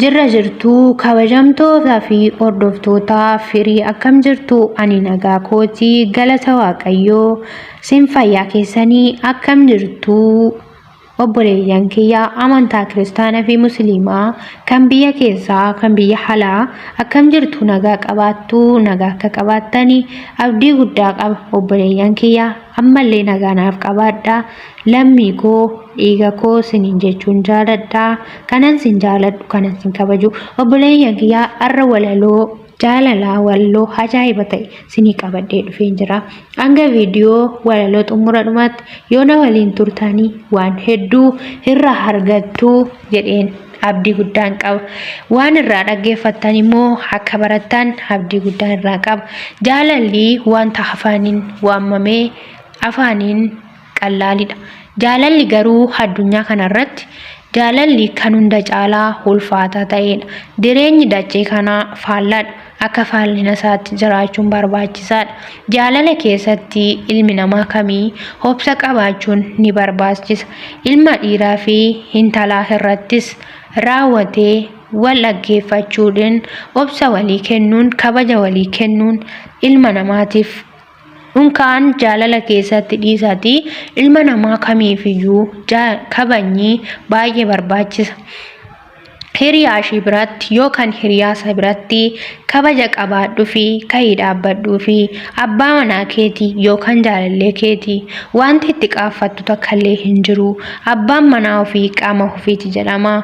Jirra jirtuu kabajamtootaa fi hordoftootaa firii akkam jirtu ani nagaa kooti galata waaqayyoo sin fayyaa keessanii akkam jirtuu Obboleeyyan kiyya amantaa kiristaana fi musliimaa kan biyya keessaa kan biyya halaa akkam jirtu nagaa qabaattu nagaa akka qabaattani abdii guddaa qaba obboleeyyan kiyya ammallee nagaa naaf qabaadha lammii koo dhiiga koo sinin jechuun jaaladha kanan sin jaaladhu kanan sin kabaju obboleeyyan kiyya arra walaloo Jaalala walloo ajaa'iba ta'e sinii qabadhee dhufeen jira. Hanga viidiyoo walaloo xumura dhumaatti yoo na waliin turtanii waan hedduu irraa argattu jedheen abdii guddaan qaba. Waan irraa dhaggeeffattan immoo akka barattan abdii guddaan irraa qaba. Jaalalli wanta afaaniin waamamee afaaniin qallaalidha. Jaalalli garuu addunyaa kanarratti jaalalli kan hunda caalaa ulfaataa ta'edha. Jireenyi dachee kanaa faallaadha. Akka faallina isaatti jiraachuun barbaachisaadha. Jaalala keessatti ilmi namaa kamii obsa qabaachuun ni barbaachisa. Ilma dhiiraa fi intalaa irrattis raawwatee wal dhaggeeffachuudhaan obsa walii kennuun kabaja walii kennuun ilma namaatiif Kun kaan jaalala keessatti dhiisati ilma namaa kamiifiyyuu kabajni baay'ee barbaachisa. Hiriyaa ishii biratti yookaan hiriyaa isaa biratti kabaja qabaadhuufi ka'ii dhaabbadhuufi abbaa manaa keeti yookaan jaalallee keeti wanti itti qaaffattu takkallee hin jiru abbaan manaa ofii qaama ofiiti jedhama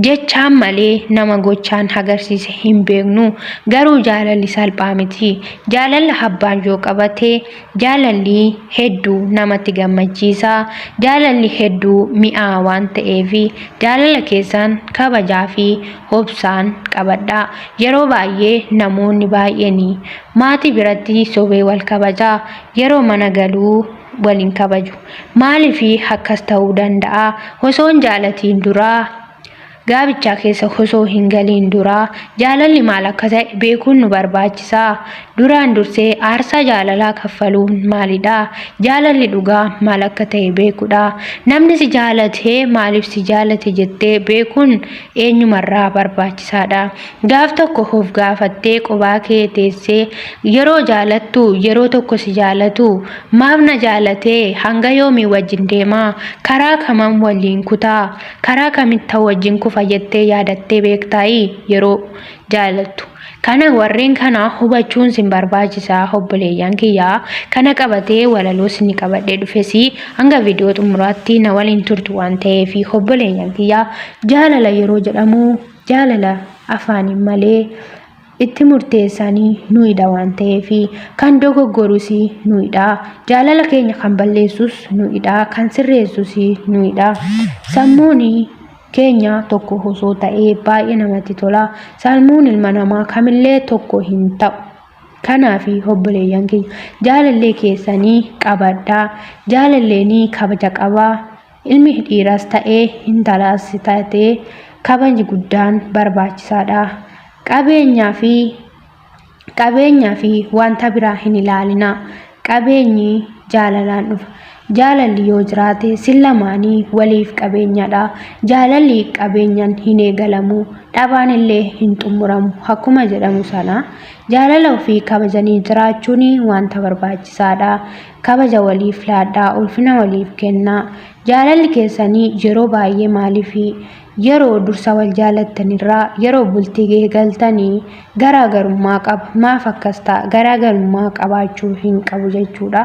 Jechaan malee nama gochaan hagarsiise hin beeknu. Garuu jaalalli salphaa miti. Jaalalla habbaan yoo qabate jaalalli heddu namatti gammachiisa. Jaalalli heddu mi'aa waan ta'eef jaalala keessan kabajaa fi obsaan qabadha. Yeroo baay'ee namoonni baay'een maatii biratti sobee wal kabaja. Yeroo mana galuu waliin kabaju. Maaliif akkas ta'uu danda'a? Osoo hin jaalatiin duraa gaabichaa keessa osoo hin galiin duraa jaalalli maal akka ta'e beekuun nu barbaachisa. Duraan dursee aarsaa jaalalaa kaffaluun maalidha? Jaalalli dhugaa maal akka ta'e beekudha. Namni si jaalate maaliif si jaalate jettee beekuun eenyumarraa barbaachisaadha. Gaaf tokko of gaafattee qobaa kee teessee yeroo jaalattu yeroo tokko si jaalatu maaf na jaalatee hanga yoomii wajjin deema karaa kamam waliin kuta karaa kamittan wajjin kufa jettee yaadattee beektaayii yeroo jaalattu kana warreen kana hubachuun sin barbaachisa obboleeyyan kiyyaa kana qabatee walaloo sin qabadhee dhufesi hanga viidiyoo xumuraatti na waliin turtu waan ta'eef obboleeyyan kiyyaa jaalala yeroo jedhamu Jaalala afaaniin malee itti murteessaan nuidha waan ta'eef kan dogoggorus nuidha. Jaalala keenya kan balleessus nuidha. Kan sirreessus nuidha. Sammuun keenya tokko osoo ta'ee baay'ee namatti tola. Sammuun ilma namaa kamillee tokko hin ta'u. Kanaaf obboleeyyan keenya jaalallee keessanii qabadhaa. Jaalalleen kabaja qabaa. Ilmi dhiiras ta'ee intalaas taatee kabajni guddaan barbaachisaadha. Qabeenyaa fi qabeenyaa fi wanta biraa hin ilaalina. Qabeenyi jaalalaan dhufa. Jaalalli yoo jiraate sin lamaanii waliif qabeenyadha. Jaalalli qabeenyan hin eegalamu. Dhabaan illee hin xumuramu. Akkuma jedhamu sana jaalala ofii kabajanii jiraachuun wanta barbaachisaadha. kabaja waliif laadhaa, ulfina waliif kennaa. Jaalalli keessanii yeroo baay'ee maaliifi? Yeroo dursa wal jaalattanirraa yeroo bultii eegaltanii garaagarummaa qaba. Maaf akkas ta'a? Garaagarummaa qabaachuu hin qabu jechuudha.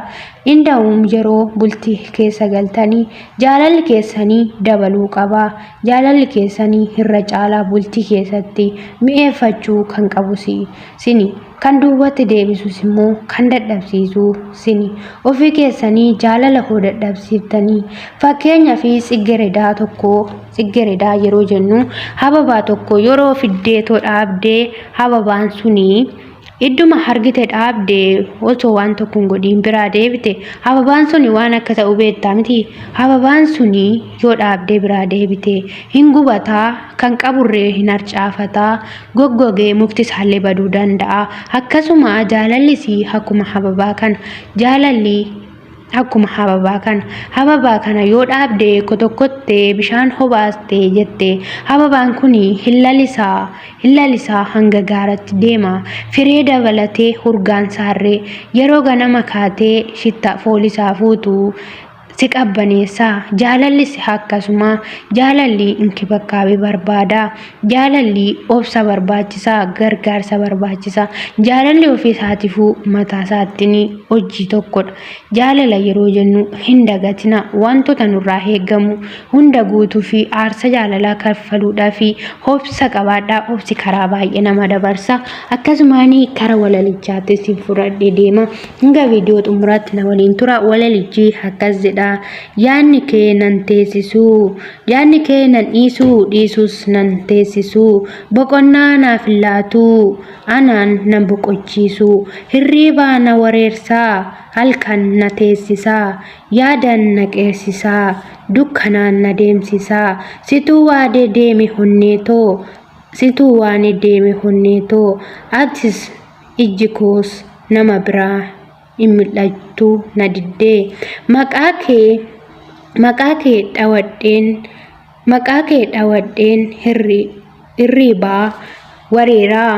Inda'uum yeroo bultii keessa galtanii jaalalli keessanii dabaluu qaba. Jaalalli keessanii irra caalaa bultii keessatti mi'eeffachuu kan qabu sini. Kan duubatti deebisus immoo kan dadhabsiisu sini ofii keessanii jaalala koo dadhabsiiftanii fakkeenya fi tsiggeredaa tokko tsiggeredaa yeroo jennu hababaa tokko yeroo fiddeetoo dhaabdee hababaan sunii idduma hargite dhaabdee osoo waan tokko hin godhiin biraa deebite hababaan suni waan akka ta'u beektaa miti hababaan suni yoo dhaabdee biraa deebite hin gubataa kan qaburree hin harcaafataa goggogee mukti isaallee baduu danda'a. Akkasuma jaalallis akkuma hababaa kana. Jaalalli akkuma hababaa kana. Hababaa kana yoo dhaabde kotokotte bishaan hobaaste jette hababaan kun hin lalisaa hin lalisaa hanga gaaratti deema. Firee dabalatee urgaan saarree yeroo ganama kaatee shitta foolisaa fuutu si qabbaneessa jaalalli si akkasuma jaalalli inkibakkaabee barbaada jaalalli obsa barbaachisa gargaarsa barbaachisa jaalalli ofii isaatiifuu mataa isaattiin hojii tokkodha jaalala yeroo jennu hin dagatina wantoota nurraa eegamu hunda guutuu fi aarsa jaalalaa kaffaluudhaa fi obsa qabaadhaa obsi karaa baay'ee nama dabarsa akkasumaan karaa walalichaattis fudhadhee deema Hanga viidiyoo xumuraatti na waliin tura walalichi akkas jedha yaadni kee nan teessisuu yaadni kee nan dhiisuu dhiisuus nan teessisuu boqonnaa naaf hin laatuu anaan nan boqochiisuu hirriibaa na wareersaa halkan na teessisaa yaadan na qeersisaa dukkanaan na deemsisaa situu waadee deemi honneetoo situu waane deeme honneetoo atis ijji koos nama biraa in mil'attu na didde. Maqaa kee maqaa kee dhawadheen maqaa kee dhawadheen hirri irriibaa wareeraa.